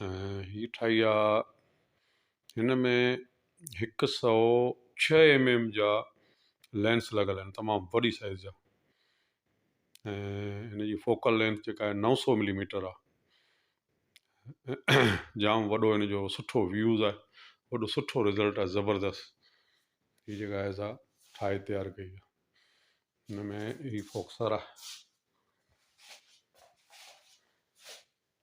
هي ٺاهي آ هن ۾ هڪ سو ڇهه ايم ايم جا لينس لڳل آهن تمام وڏي سائز جا ۽ هن جي فوڪل لينس جيڪا آهي نو سو ملي ميٽر آ جام وڏو هن جو سٺو ويوز آهي وڏو سٺو رزلٽ آهي زبردست هي جيڪا آهي سا ٺاهي تيار ڪئي آ هن ۾ هي فوڪسر آ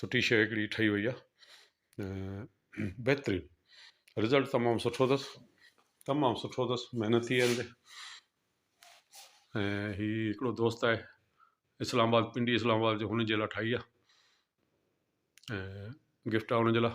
سٺي شيء هڪڙي ٺهي وئي آهي بهترين رزلٽ تمام سٺو اٿس تمام سٺو اٿس محنتي آهي هندي ۽ هي هڪڙو دوست آهي اسلام آباد پنڊي اسلام آباد جو هن جي لاء ٺاهي آهي ۽ گفٽ آهي هن جي لاء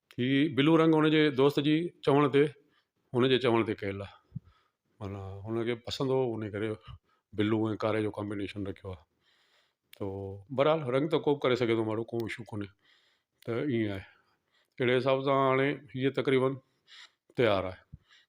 ھي بلو رنگ ھن جي دوست جي چوڻ تي ھن جي چوڻ تي ڪيل آھي معنيٰ ھن کي پسند ھو ان ڪري بلو ۽ ڪاري جو ڪامبينيشن رکيو آھي تو بھرحال رنگ ته ڪوبه ڪري سگھي تو ماڻھو ڪو اشو ڪوني ته ايئن آھي اھڙي حساب سان ھاڻي ھيء تقريبن تيار آھي